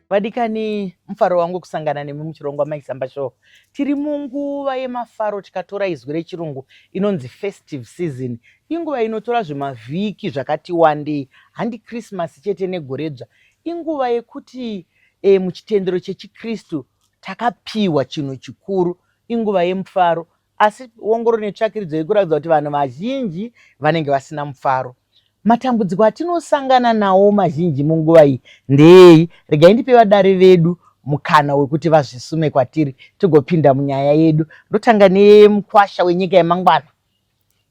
Vadikani, mufaro wangu kusangana nemi muchirongwa Maisamba Show. Tiri munguva yemafaro tikatora izwi rechirungu inonzi festive season. Inguva inotora zvimavhiki zvakati wandei, handi Krisimasi chete negore dzva. Inguva yekuti e, muchitendero chechiKristu takapiwa chinhu chikuru, inguva yemufaro. Asi wongororo netsvakiridzo iri kuratidza kuti vanhu vazhinji vanenge vasina mufaro. Matambudziko atinosangana nawo mazhinji munguva iyi ndeeyi? Regai ndipe vadare vedu mukana wekuti vazvisume kwatiri tigopinda munyaya yedu. Ndotanga nemukwasha wenyika yemangwana.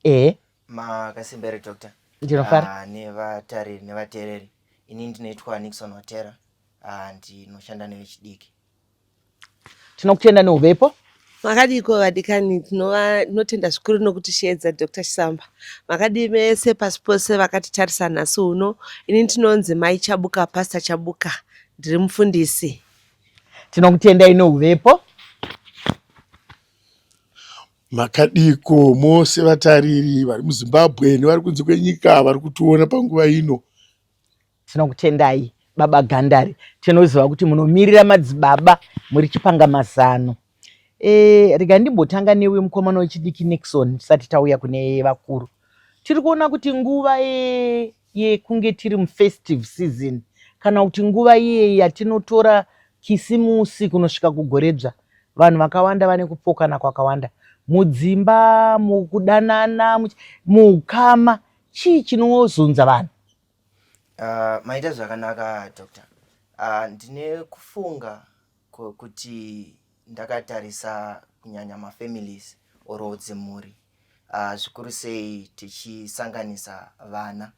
ehe makasimba here doctor ndinofara Ah, nevatariri nevateereri ini ndinoitwa nixon watera Ah, ndinoshanda nevechidiki tinokutenda neuvepo makadiiko vadikani tinova- tinotenda zvikuru nokutishedza dr chisamba makadii mese pasi pose vakatitarisa nhasi uno ini ndinonzi mai chabuka pastor chabuka ndiri mufundisi tinokutendai neuvepo Makadiko mose vatariri vari muZimbabwe nevari kunze kwenyika vari kutiona panguva ino. Tinokutendai baba Gandari, tinoziva kuti munomirira madzibaba muri chipanga mazano. E, rega ndimbotanga newe mukomana wechidiki Nixon tisati tauya kune vakuru. Tiri kuona kuti nguva e, yekunge tiri mufestive season kana kuti nguva iye yatinotora kisimusi kunosvika kugorebza vanhu vakawanda vane kupokana kwakawanda mudzimba mukudanana muukama chii chinozunza vanhu uh, maita zvakanaka doctor uh, ndine kufunga kuti ndakatarisa kunyanya mafamilies oro dzimhuri uh, zvikuru sei tichisanganisa vana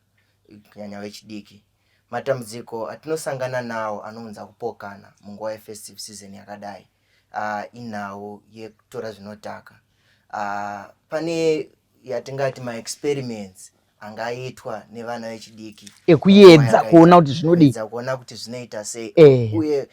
kunyanya vechidiki matambudziko atinosangana nawo anounza kupokana munguva yefestive season yakadai uh, inhau yekutora zvinotaka uh, pane yatingati maexperiments angaitwa nevana vechidiki ekuedza kuona kuti zvinodii kuona kuti zvinoita sei eh. uye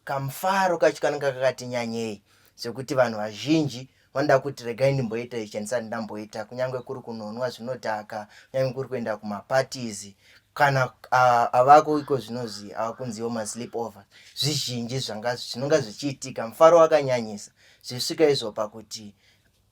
kamufaro kacho kanenge kakati nyanyei zvekuti vanhu vazhinji vanoda kuti regai ndimboita ichi andisati ndamboita kunyange kuri kunonwa zvinodhaka kunyange kuri kuenda kumapatizi kana uh, avako iko zvinozi avakunziwo maslip over zvizhinji zvinonga zvichiitika mufaro wakanyanyisa zvisvika izvo pakuti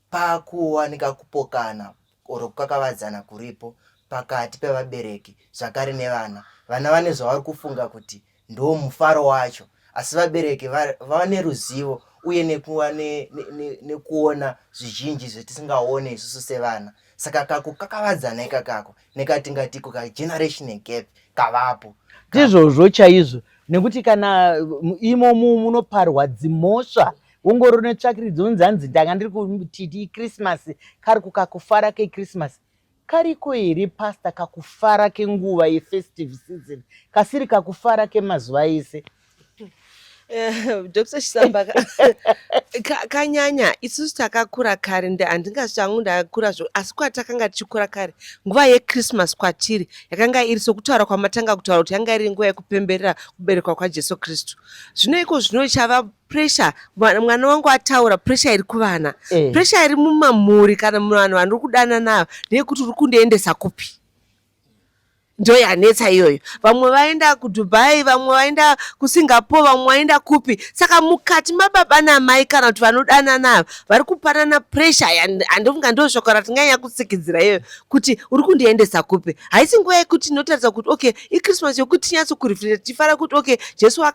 pakuwanika kupokana or kukakavadzana kuripo pakati pevabereki zvakare nevana. Vana vane zvavari kufunga kuti ndo mufaro wacho asi vabereki vava neruzivo uye nekuva nekuona ne, ne, zvizhinji zvetisingaone isusu sevana saka kakukakavadzana ikakako nekatingatiko kageneration gap kavapo ndizvozvo chaizvo nekuti kana imo munoparwa dzimhosva ungori une tsvakiridzo unzi hanzi ndanga ndiri kutiti ikrismasi kari kukakufara kekrismasi kariko here pasta kakufara kenguva yefestive season kasiri kakufara kemazuva ese eh, dr chisamba kanyanya isusu takakura kare handingazi changu ndakura zvo asi kwatakanga tichikura kare nguva yechristmas kwatiri yakanga iri sokutaura kwamatanga kutaura kuti yanga iri nguva yekupemberera kuberekwa kwajesu kristu zvino iko zvino chava pressure mwana wangu ataura pressure iri kuvana eh. pressure iri mumamhuri kana muvanhu vandiri kudana nayo ndeyekuti uri kundiendesa kupi ndo yanetsa iyoyo vamwe vaenda kudubai vamwe vaenda kusingapore vamwe vaenda kupi saka mukati mababa namai kana kuti vanodana nayo vari kupanana pressure handifunga ndo shoko ratinganyanya kutsikidzira iyoyo kuti uri kundiendesa kupi haisi nguva yekuti inotaridza kuti okay ichristmas yokuti tinyatso kurefleta tichifara kuti okay jesu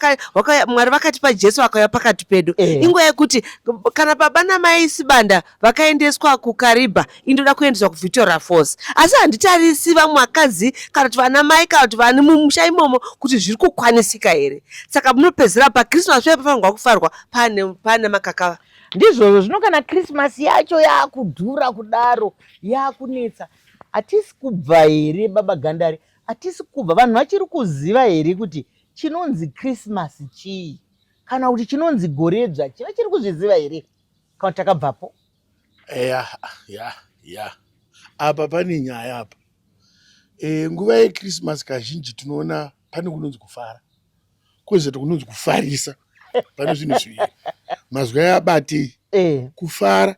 mwari vakatipa jesu akauya pakati pedu eh. inguva yekuti kana baba namai sibanda vakaendeswa kukaribha indoda kuendeswa kuvictoria force asi handitarisi vamwe vakadzi kana kuti vana mai kana kuti vani mumusha imomo kuti zviri kukwanisika here saka munopedzera pachristmas pee pafanirwa kufarwa pane makakava ndizvozvo zvino kana krismasi yacho yaakudhura kudaro yaakunetsa hatisi kubva here baba gandari Hatisi kubva vanhu vachiri kuziva here kuti chinonzi Christmas chii kana kuti chinonzi goredzva chii vachiri kuzviziva here kana kuti takabvapo? Eya, ya, ya. Apa pane nyaya apa. E, nguva yeChristmas kazhinji tinoona pane kunonzi kufara kwezvati kunonzi kufarisa pane zvinhu zviviri mazwi aya abatei eh. kufara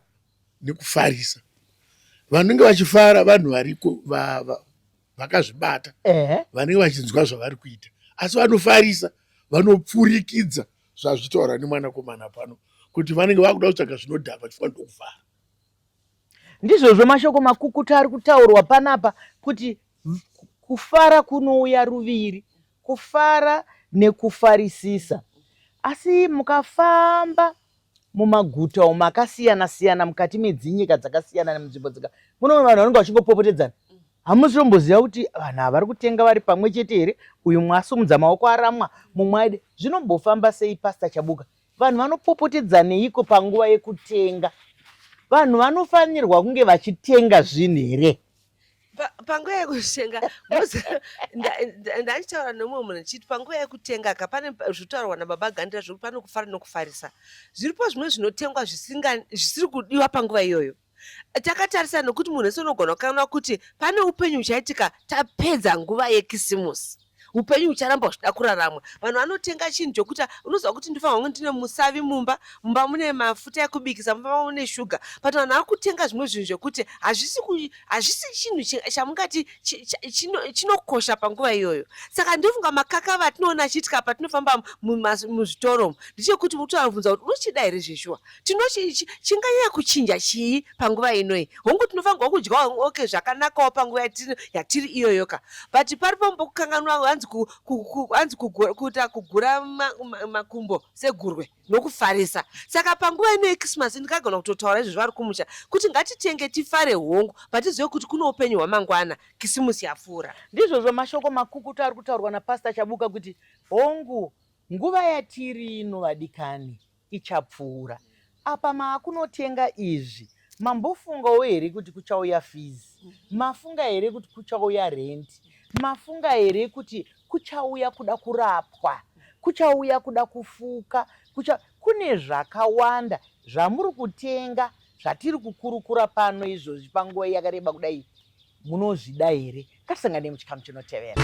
nekufarisa vanenge vachifara vanhu variko vakazvibata vanenge vachinzwa zvavari kuita asi vanofarisa vanopfurikidza zvazvitaura nemwanakomana pano kuti vanenge vakuda kutsvaga zvinodhakwa chifanira kuvhara ndizvozvo mashoko makukuta ari kutaurwa panapa kuti kufara kunouya ruviri kufara nekufarisisa asi mukafamba mumaguta umo akasiyana siyana mukati medzinyika dzakasiyana nemunzvimbo dzika muno vanhu vanenge vachingopopotedzana hamusi tomboziva kuti vanhu ava vari kutenga vari pamwe chete here uyu mwasumudza maoko aramwa mumwe aide zvinombofamba sei pasta chabuka vanhu vanopopotedzaneiko panguva yekutenga vanhu vanofanirwa kunge vachitenga zvinhu here panguva yekutenga ndachitaura nemumwe munhu ndichiti panguva yekutenga ka pane zvitaurwa nababa gandira zvekuti pane kufara nokufarisa zviripo zvimwe zvinotengwa zvisiri kudiwa panguva iyoyo takatarisa nokuti munhu wese unogona kukanwa kuti pane upenyu huchaitika tapedza nguva yekisimusi upenyu hucharamba huchida kuraramwa vanhu vanotenga chinhu chokuti unoziva kuti ndifana kunge ndine musavi mumba mumba mune mafuta ekubikisa mumba mune shuga but vanhu vari kutenga zvimwe zvinhu zvekuti hazvisi chinhu chamungati chinokosha panguva iyoyo saka ndofunga makaka vatinoona achiitika patinofamba muzvitoro ndichekuti utovabvunza kuti unochida here zveshuwa tino chinganyanya kuchinja chii panguva inoi hongu tinofanirwa kudya ok zvakanakawo panguva yatiri, yatiri iyoyoka but pari pambo kukanganwa hanzi hanzi kuita kugura makumbo segurwe nokufarisa saka panguva inoi christmas ndikagona kutotaura izvo zvari kumusha kuti ngatitenge tifare hongu but tizive kuti kune upenyu hwamangwana kisimusi yapfuura ndizvozvo mashoko makukutu ari kutaurwa napastor chabuka kuti hongu nguva yatiri ino vadikani ichapfuura apa maakunotenga izvi mambofungawo here kuti kuchauya fees mafunga here kuti kuchauya rent mafunga here kuti kuchauya kuda kurapwa kuchauya kuda kufuka kucha kune zvakawanda zvamuri kutenga zvatiri kukurukura pano izvozvi panguva yakareba kudai munozvida here Kasanganei muchikamu chinotevera.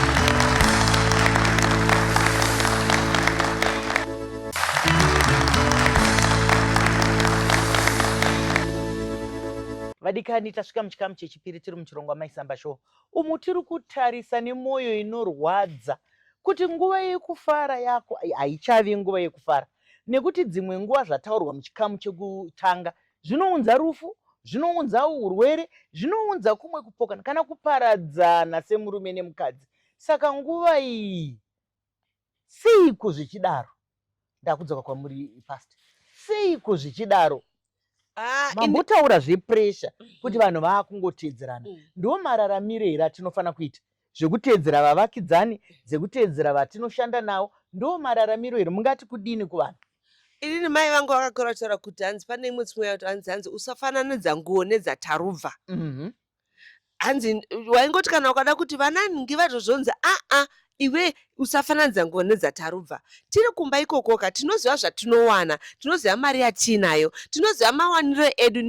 vadikani tasvika muchikamu chechipiri tiri muchirongwa maisamba show umu tiri kutarisa nemwoyo inorwadza kuti nguva yekufara yako haichavi nguva yekufara nekuti dzimwe nguva zvataurwa muchikamu chekutanga Zvinounza rufu, zvinounza urwere, zvinounza kumwe kupokana kana kuparadzana semurume nemukadzi. Saka nguva iyi seiko zvichidaro? Ndakudzoka kwamuri past. Seiko zvichidaro? Ah, Mambotaura zvepressure kuti vanhu vakungoteedzerana. Mm. Ndiwo mararamire here atinofanira kuita? zvekuteedzera vavakidzani dzekuteedzera vatinoshanda navo ndo mararamiro here mungati kudini kuvanhu inini mai vangu vakakura kutaura kuti hanzi pane imwe tsimwe yakuti hanzi hanzi usafananidza nguo nedzatarubva mhm. hanzi waingoti kana ukada kuti vanani ngivatozvonzi aa iwe Usafananidza nguva nedzatarubva. Tiri kumba ikokoka, tinoziva zvatinowana, tinoziva mari yatiinayo, tinoziva mawaniro edu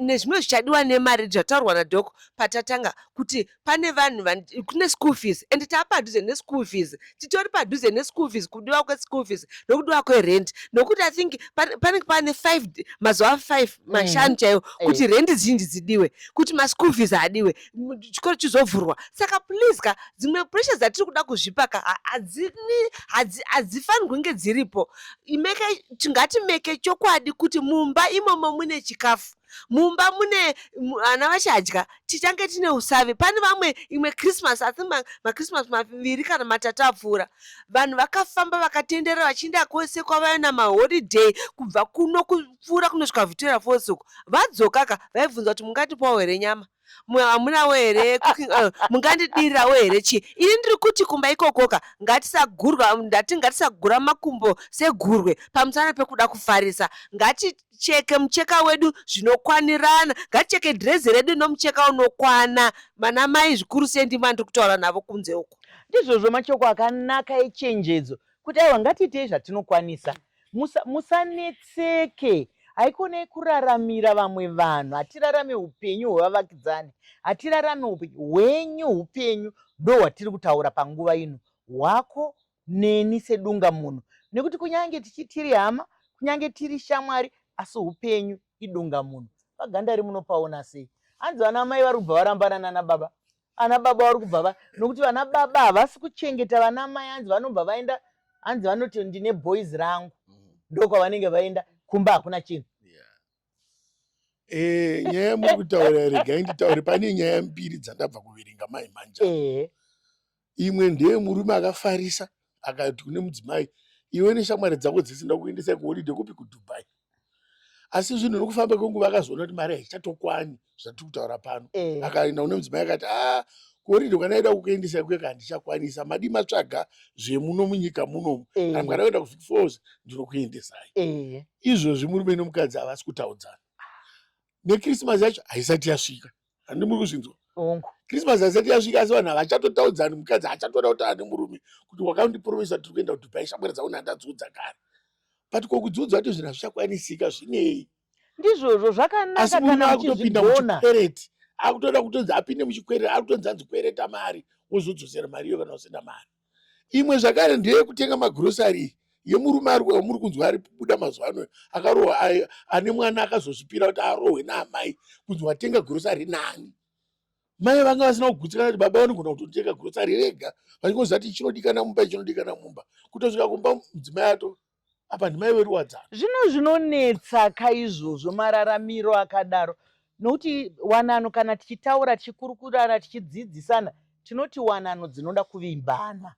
nezvimwe zvichadiwa nemari zvataurwa nadhoko patatanga kuti pane vanhu kune school fees and taa padhuze neschool fees. Titori padhuze neschool fees, kudiwa kweschool fees nokudiwa kwerent nokuti i think panenge pane five mazuva five mm. mashanu chaiwo kuti rent zhinji dzidiwe, kuti maschool fees adiwe. mu- chikoro chizovhurwa saka please ka dzimwe pressure dzatiri kuda kuzvipa ka ha- hadzini- hadzi- hadzifanirwi kunge dziripo Imeke- ti- ngatimeke chokwadi kuti mumba imomo mune chikafu mumba mune mu- vana vachadya tichange tine usavi pane vamwe imwe christmas asi ma- machristmas maviri kana matatu apfuura vanhu vakafamba vakatenderera vachienda kwese kwavaya namaholiday kubva kuno ku- vachipfuura kunosvika Victoria Falls uko vadzokaka vaibvunza kuti mungatipawo here nyama hamunawo here cooking oil mungandidirirawo here chii ini ndiri kuti kumba ikokoka ngatisagurwa ndati ngatisagura makumbo segurwe pamusana pekuda kufarisa ngaticheke mucheka wedu zvinokwanirana ngaticheke dhirezi redu nomucheka unokwana mana mai zvikuru sei ndima ndiri kutaura navo kunze uko ndizvozvo machoko akanaka echenjedzo kuti aiwa ngatiitei zvatinokwanisa Musa, musanetseke haikone kuraramira vamwe vanhu hatirarame upenyu hwevavakidzani hatirarame upenyu hwenyu upenyu ndo hwatiri kutaura panguva ino hwako neni sedunga munhu nekuti kunyange tichitiri hama kunyange tiri shamwari asi upenyu idunga munhu pagandari munopaona sei hanzi vana mai vari kubva varambana nana baba ana baba vari kubva va nokuti vana baba havasi kuchengeta vana mai hanzi vanobva vaenda hanzi vanoti ndine boys rangu mm. ndokwavanenge vaenda kumba hakuna chinhu eh, nyaya yamuri kutaura regai nditaure pane nyaya mbiri dzandabva kuverenga mai manja eh. imwe ndeye murume akafarisa akati kune mudzimai iwe neshamwari dzako dzese ndakuendesai kuholidhe kupi kudubai asi zvinhu nokufamba kwenguva akazoona kuti mari haichatokwani zvatiri kutaura pano eh. akaenda kune mudzimai akati a ah, kuholidhe kwanaida kukuendesai kuye kana ndichakwanisa madii matsvaga zvemuno munyika munomu eh. kana mukada kuenda kuvik fos ndinokuendesai eh. izvozvi murume nomukadzi havasi kutaudzana nekrismasi yacho haisati yasvika handi muri kuzvinzwa hongu krismas haisati yasvika asi vanhu havachatotaudzani mukadzi hachatoda kuti ane murume kuti wakandipromisa tiri kuenda kudubai shamwari dzauna handadziudza kare but kokudziudza kuti zvinhu hazvichakwanisika zvinei ndizvozvo zvakanaka kana akutopinda muchikwereti akutoda kutonzi apinde muchikwereti akutonzi anzi kwereta mari wozodzosera mari iyo kana usina mari imwe zvakare ndeyekutenga magrosari yemurume ari wamuri kunzwa ari kubuda mazuva ano akarohwa ane mwana akazozvipira kuti arohwe naamai kunzi watenga grosari nani mai vanga vasina kugutsikana kuti baba vanogona kutotenga grosari rega vachingoziva kuti chinodikana mumba chinodikana mumba kutosvika kumba mudzimai ato apa ndimai vedu wadzana zvino zvinonetsa ka izvozvo mararamiro akadaro nokuti wanano kana tichitaura tichikurukurana tichidzidzisana tinoti wanano dzinoda kuvimbana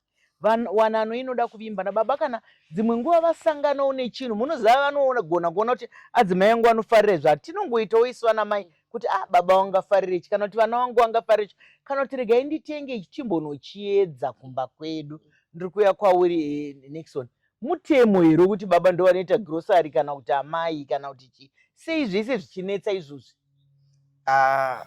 wanano inoda kuvimbana baba kana dzimwe nguva vasanganawo nechinhu munoziva vanogona kuona kuti adzimai angu anofarira izvo hatinongoitawo isu vana mai kuti ah baba vangafarira ichi kana kuti vana vangu vangafarira ichi kana kuti regai nditenge ichi chimbonochiedza kumba kwedu ndiri kuya kwauri eh, nixon Mutemo here wekuti baba ndovanoita grocery kana kuti amai kana kuti chii? Sei zvese zvichinetsa izvozvi? Ah,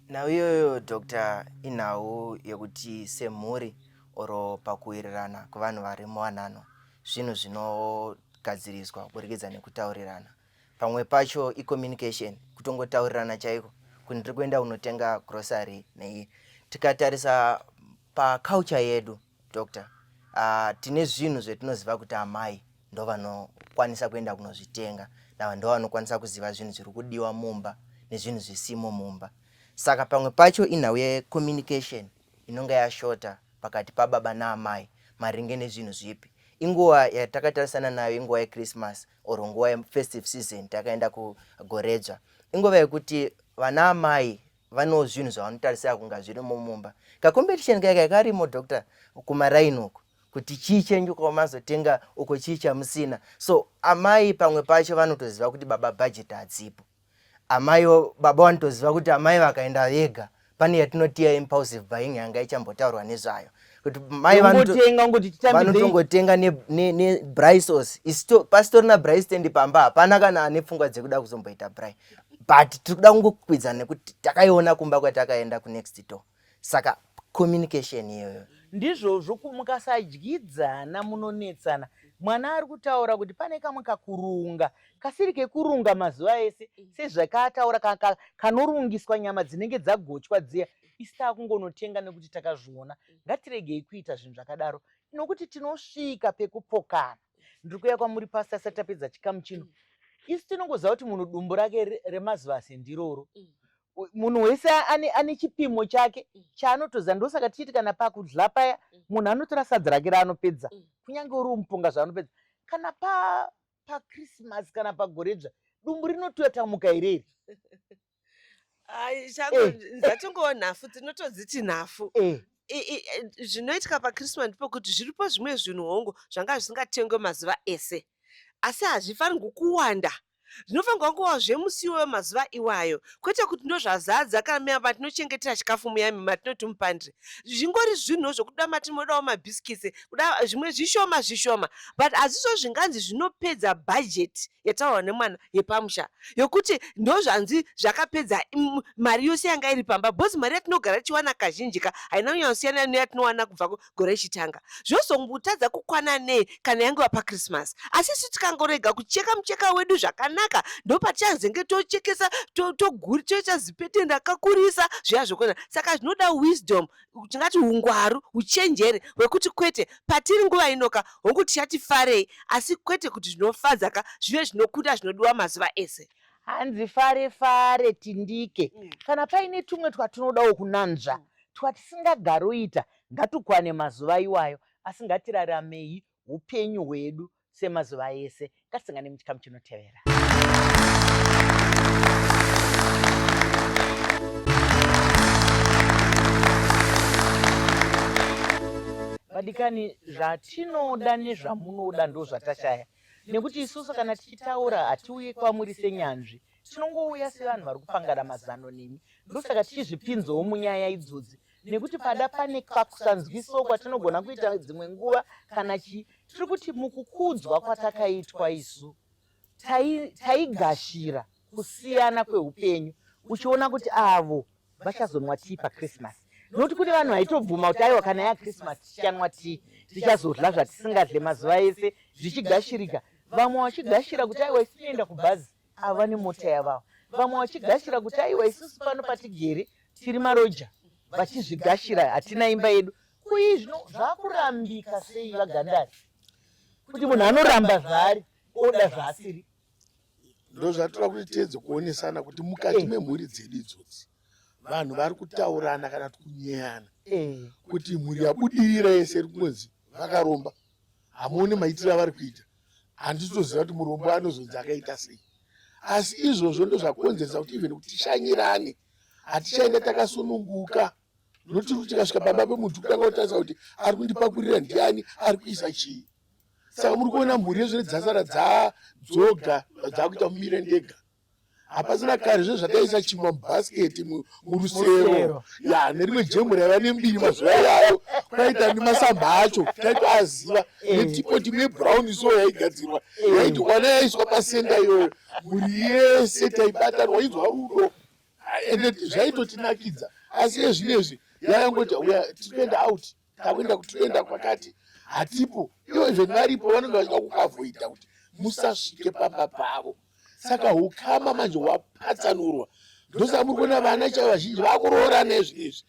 nhau iyoyo doctor inhau yekuti semhuri or pakuwirirana kwevanhu vari muwanano zvinhu zvinogadziriswa kuburikidza nekutaurirana pamwe pacho icommunication kutongotaurirana chaiko kuti ndiri kuenda unotenga grocery nei tikatarisa Paculture yedu doctor, uh, tine zvinhu zvetinoziva kuti amai ndovanokwanisa kuenda kunozvitenga nava ndovanokwanisa kuziva zvinhu zviri kudiwa mumba nezvinhu zvisimo mumba. Saka pamwe pacho inhau yecommunication inonge yashota pakati pababa naamai maringe nezvinhu zvipi inguva yatakatarisana nayo inguva yechristmas or nguva yefestive season takaenda kugoredzva inguva yekuti vana amai vanewo zvinhu zvavanotarisira kunga zvirimo mumba kacompetition kaya kaya karimo doctor kumaraini uko kuti chii chenyu kwamazotenga uko chii chamusina so amai pamwe pacho vanotoziva kuti baba bhajeti hadzipo amai baba vanotoziva kuti amai vakaenda vega pane yatinotiya impulsive buying yanga ichambotaurwa nezvayo kuti mai vanotongotenga nebrisos ne, ne pasitorina bristendi pamba hapana kana ane pfungwa dzekuda kuzomboita bri but tiri kuda kungokwidzana nekuti takaiona kumba kwatakaenda kunext door saka communication iyoyo ndizvozvo mukasadyidzana munonetsana mwana ari kutaura kuti pane kamwe kakurunga kasiri kekurunga mazuva ese mm. sezvakaataura kanorungiswa nyama dzinenge dzagochwa dziya isi taakungonotenga nekuti takazviona mm. ngatiregei kuita zvinhu zvakadaro nokuti tinosvika pekupokana ndiri kuya kwamuri pasi asati tapedza chikamu chino mm. isu tinongoziva kuti munhu dumbu rake remazivasi ndiroro mm. munhu wese ane, ane chipimo chake mm. chaanotoziva ndosaka tichiti kana pakudla paya mm. munhu anotora sadza rake raanopedza mm. kunyange uri umupunga zvaanopedza kana pa pakrismas kana pagoredzva dumbu rinotoyatamuka here iri Ai, changu Eh. ndatongowo nhafu tinotodziti nhafu Eh, I- i- i- zvinoitika pachristmas ndepokuti zviripo zvimwe zvinhu hongu zvanga zvisingatengwe mazuva ese asi hazvifanirwi kuwanda zvinofanirwa kuva zvemusi iwoyo mazuva iwayo kwete kuti ndozvazadza kana muya matinochengetera chikafu muyami matinoti mupandre zvingori zvinhu zvokuda matinodawo mabhisikitsi kuda zvimwe zvishoma zvishoma but hazvizvo zvinganzi zvinopedza bhajeti yataurwa nemwana yepamusha yokuti ndozvanzi zvakapedza mari yose yanga iri pamba bcos mari yatinogara tichiwana kazhinji ka haina kunyanyosiyana neyatinowana kubva gore richitanga zvozombotadza kukwana nei kana yangewa pachristmas asi isu tikangorega kucheka mucheka wedu zvakanaka ndopatichazenge tochekesa toita zipete ndakakurisa zviya zvokona saka zvinoda wisdom tingati ungwaru uchenjeri hwekuti kwete patiri nguva inoka hongu tichati farei asi kwete kuti zvinofadza ka zvive zvinokunda zvinodiwa mazuva ese hanzi fare fare tindike mm. kana paine tumwe twatinodawo kunanzva mm. twatisingagaroita ngatukwane mazuva iwayo asi ngatiraramei upenyu hwedu semazuva ese ngatisangane muchikamu chinotevera vadikani zvatinoda nezvamunoda ndo zvatashaya nekuti isusu kana tichitaura hatiuye kwamuri senyanzvi tinongouya sevanhu vari kupangana mazano nemi ndosaka tichizvipinzawo munyaya idzodzi nekuti pada pane kakusanzwisiwo kwatinogona kuita dzimwe nguva kana chii tiri kuti mukukudzwa kwatakaitwa isu taigashira tai kusiyana kweupenyu uchiona kuti avo vachazonwa tii pachristmas nokuti kune vanhu vaitobvuma kuti aiwa kana yachristmas tichanwa tii tichazodla zvatisingadle mazuva ese zvichigashirika vamwe vachigashira kuti aiwa isinoenda kubhazi ava vane mota yavavo vamwe vachigashira kuti aiwa isusu pano patigere tiri maroja vachizvigashira hatina imba yedu kuyi zvino zvakurambika sei vagandari kuti munhu anoramba zvaari oda zvaasiri ndo zvatoda kuti tiedze kuonesana kuti mukati eh. memhuri dzedu idzodzi vanhu vari kutaurana kana kuti kunyeyana eh. kuti mhuri yabudirira yese iri kunonzi vakaromba hamuoni maitiro avari kuita handitoziva kuti murombo anozonzi akaita sei asi izvozvo ndozvakonzeresa kuti even kuti tishanyirane hatichaenda takasununguka notiri kuti tikasvika pamba pemuntu kutanga kutarisa kuti ari kundipakurira ndiani ari kuisa chii saka muri kuona mhuri yezvine dzasara dzadzoga dzakuita mumire ndega hapasina kare zve zvataisa chimwa mubhasiketi murusero ya nerimwe jemu raiva nembiri mazuva yayo kwaita nemasamba acho taitoaziva eh. netipo timu yebrown so yaigadzirwa eh. yaiti kwana yaiswa pasenda iyoyo mhuri yese taibatanwa inzwa rudo ende zvaitotinakidza asi ezvinezvi yayangoti uya tikuenda out takuenda kuti toenda kwakati hatipo ivo even varipo vanenge vachida kukavoida kuti musasvike pamba pavo saka ukama manje hwapatsanurwa ndosaka muri kuona vana chaivo vazhinji vakuroora nezvi izvi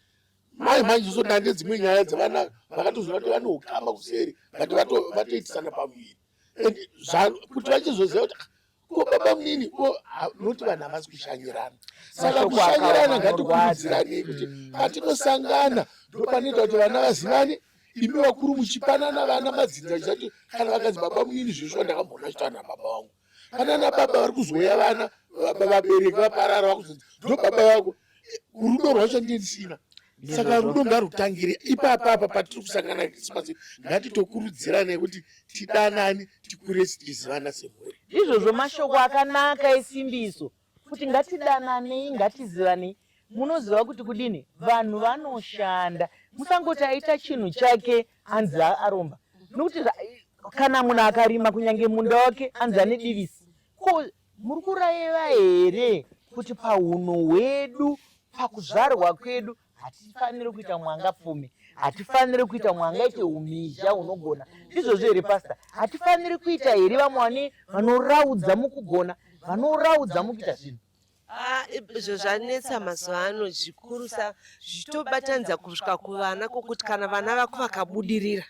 mai manje zosodana nedzimwe nyaya dzevana vakatoziva kuti vane ukama kuseri but vatoitisana pamuviri and kuti vachizoziva kuti ah, ko baba munini ko munoti vanhu havasi kushanyirana saka kushanyirana ngatikurudzirani kuti mm. patinosangana ndopanoita kuti vana vazivane imi vakuru muchipanana vana madzinza chizati kana vakanzi baba munini zvinosvika ndakamboona chitana baba vangu panana baba vari kuzoya vana vabereki vaparara vakuzonzi ndo baba vako rudo rwacho ndisina saka rudo ngarutangire ipapa apa patiri kusangana krisimasi ngatitokurudziranei kuti tidanani tikure tichizivana semhuri izvozvo mashoko akanaka esimbiso kuti ngatidananei ngatizivanei munoziva kuti kudini vanhu vanoshanda musangoti aita chinhu chake anzi aromba nokuti kana munhu akarima kunyange munda wake anzi ane divisi ko Muri kuraiva here kuti pahunhu hwedu, pakuzvarwa kwedu, hatifaniri kuita mwanga pfumi, hatifaniri kuita mwanga ite umhizha hunogona? Ndizvozvo here pasta? Hatifaniri kuita here vamwe vane vanoraudza mukugona, vanoraudza mukuita zvinhu? Ah, izvo zvanetsa mazuva ano zvikurusa zvitobatanidza kusvika kuvana kwokuti kana vana vako vakabudirira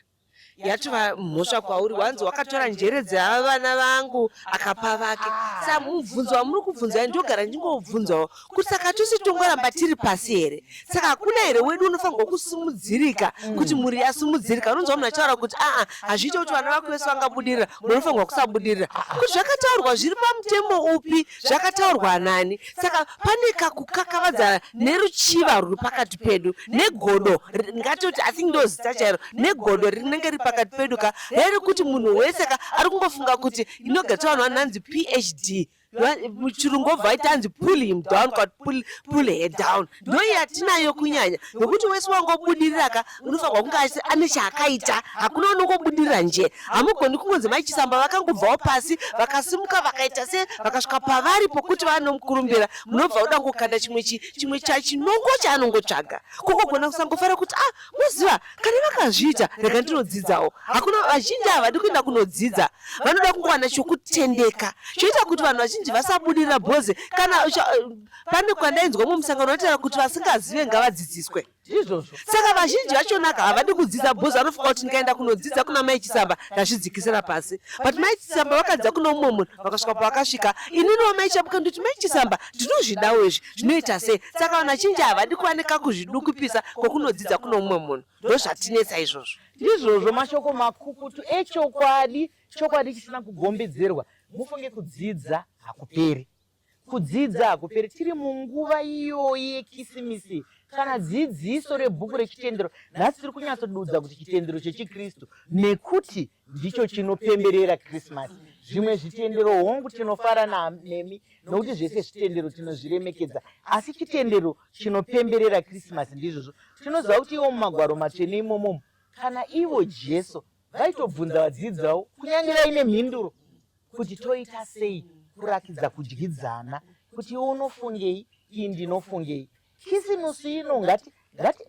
yatova mhosva kwauri wanzi wakatora njere dzeava vana vangu akapa vake sa mubvunzo wamuri kubvunzai ndogara ndingobvunzawo kuti saka tose tongoramba tiri pasi here saka hakuna here wedu unofanirwa kusimudzirika kuti mm. mhuri yasimudzirika unonzwa munhu achitaura kuti aa hazviite kuti vana vako vese vangabudirira munofanirwa kusabudirira ah, ah. kuti zvakataurwa zviri pamutemo upi zvakataurwa nani saka pane kakukakavadza neruchiva ruri pakati pedu negodo ngatoti i think ndo zita chairo negodo rinenge riri pakati pedu ka reri kuti munhu wese ka ari kungofunga kuti inogatswa vanhu vananzi phd muchirungu obva aita anzi pull him down kwati pull, pull her down ndoi yatinayo kunyanya nokuti wese wangobudirira ka unofanirwa kunge achiti ane chaakaita hakuna unongobudirira nje hamugoni kungonzi mai chisamba vakangobvawo pasi vakasimuka vakaita se vakasvika pavari pokuti vanomukurumbira munobva uda kukanda chimwe chi chimwe chachinongo chaanongotsvaga kukogona kusangofara kuti ah moziva kana vakazviita rega ndinodzidzawo hakuna vazhinji havadi kuenda kunodzidza vanoda kungowana chokutendeka choita kuti vanhu vazhinji vasabudirira bhoze kana pane kwandainzwa mumwe musangano vataura kuti vasingazive ngavadzidziswe izvozvo saka vazhinji vachonaka havadi kudzidza bhoz vanofunga kuti ndikaenda kunodzidza kuna mai chisamba ndazvidzikisira pasi but mai chisamba vakadzidza kuna umwe munhu vakasvika pavakasvika ininiwo mai chabuka ndoti mai chisamba ndinozvidawo izvi zvinoita sei saka vanhu vachinji havadi kuva nekakuzvidukupisa kwokunodzidza kuno umwe munhu ndozvatinetsa izvozvo ndizvozvo mashoko makukutu echokwadi chokwadi chisina kugombidzirwa mufunge kudzidza hakuperi Kudzidza hakuperi tiri munguva iyoyi yekisimisi kana dzidziso rebhuku rechitendero nhasi tiri kunyatsodudza kuti chitendero chechikristu nekuti ndicho chinopemberera krismasi zvimwe zvitendero hongu tinofara nemi nokuti zvese zvitendero tinozviremekedza asi chitendero chinopemberera krismasi ndizvozvo tinoziva kuti iwo mumagwaro matsvene imomomo kana ivo jesu vaitobvunza vadzidzi vavo kunyange vaine mhinduro kuti toita sei kurakidza kudyidzana kuti iwe unofungei ii ndinofungei kisimusi ino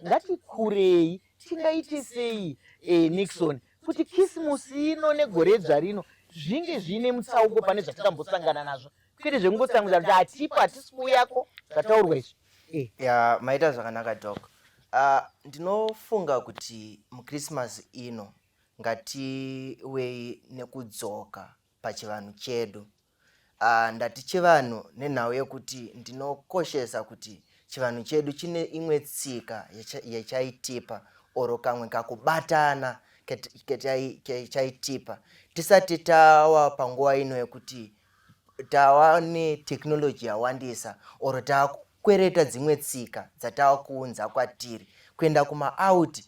ngatikurei tingaite sei e, nixon kuti kisimusi ino negoredzva rino zvinge zviine mutsauko pane zvatikambosangana nazvo kwete zvekungotsamwidza kuti hatipo hatisi kuuyako zvataurwa izvi eh. ya maita zvakanaka dok uh, ndinofunga kuti muchristmas ino ngatiwei nekudzoka pachivanhu chedu uh, ndati chivanhu nenhau yekuti ndinokoshesa kuti chivanhu chedu chine imwe tsika yachaitipa oro kamwe kakubatana chaitipa tisati tawa panguva ino yekuti tava netechnology yawandisa or takukwereta dzimwe tsika dzatava kuunza kwatiri kuenda kumaout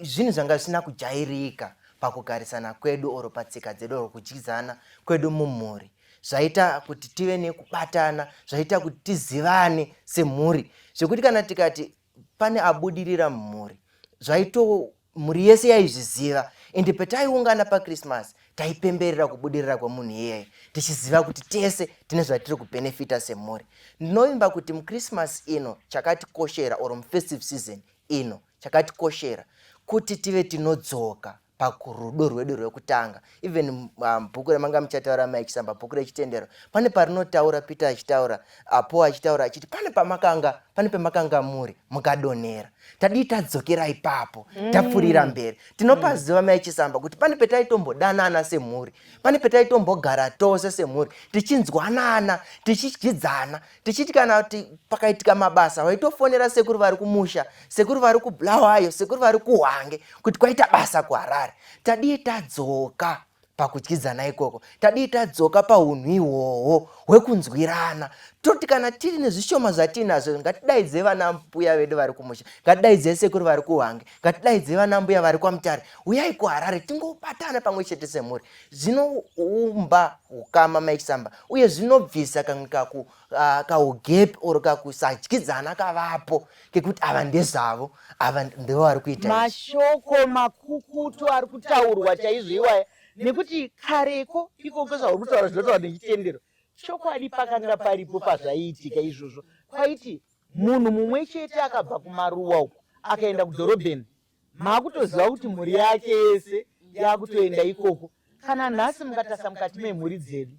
zvinhu zvanga zvisina kujairika pakugarisana kwedu or patsika dzedu or kudyidzana kwedu mumhuri zvaita kuti tive nekubatana zvaita kuti tizivane semhuri zvekuti kana tikati pane abudirira mumhuri zvaito mhuri yese yaizviziva ende pataiungana pachristmas taipemberera kubudirira kwemunhu iyeye tichiziva kuti tese tine zvatiri kubhenefita semhuri ndinovimba kuti muchristmas ino chakatikoshera or mufestive season ino chakatikoshera kuti tive tinodzoka pakurudo rwedu rwekutanga even um, bhuku ramanga muchataura maikisamba bhuku rechitendero pane parinotaura peter achitaura apo achitaura achiti pane pamakanga pane pemakanga muri mukadonhera tadii tadzokera ipapo mm. tapfurira mberi tinopaziva mm. maichisamba kuti pane petaitombodanaana semhuri pane petaitombogara tose semhuri tichinzwanana tichidyidzana tichiti kana kuti pakaitika mabasa vaitofonera sekuru vari kumusha sekuru vari kubulawayo sekuru vari kuhwange kuti kwaita basa kuharare tadii tadzoka pakudyidzana ikoko tadii tadzoka paunhu ihwohwo hwekunzwirana toti kana tiri nezvishoma zvatiinazvo ngatidaidze vana mbuya vedu vari kumusha ngatidaidze sekuru vari kuhwange ngatidaidze vana mbuya vari kwamutare uyai kuharare tingobatana pamwe chete semhuri zvinoumba ukama maisamba uye zvinobvisa kamwe kaku uh, kaugepi or kakusadyidzana kavapo kekuti ava ndezvavo ava ndivo vari kuita mashoko makukutu ari kutaurwa chaizvo iwaya nekuti kareko ikoko zvauri kutaura zvinotaura nechitendero chokwadi pakanga paripo pazvaiitika izvozvo kwaiti munhu mumwe chete akabva kumaruwa uku akaenda kudhorobheni makutoziva kuti mhuri yake yese yakutoenda ikoko kana nhasi mukatasa mukati memhuri dzedu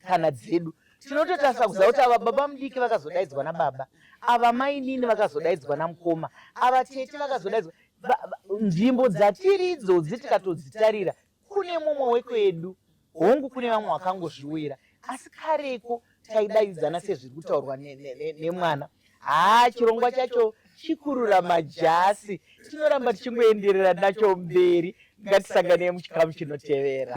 kana dzedu tinototasa kuziva kuti ava baba mudiki vakazodaidzwa nababa ava mainini vakazodaidzwa namukoma ava tete vakazodaidzwa nzvimbo dzatiridzo dzi tikatodzitarira kune mumwe wekwedu hongu kune vamwe vakangozviuyira asi kareko taidaidzana sezviri kutaurwa nemwana haa chirongwa chacho chikurura majasi tinoramba tichingoenderera nacho mberi ngatisangane muchikamu chinotevera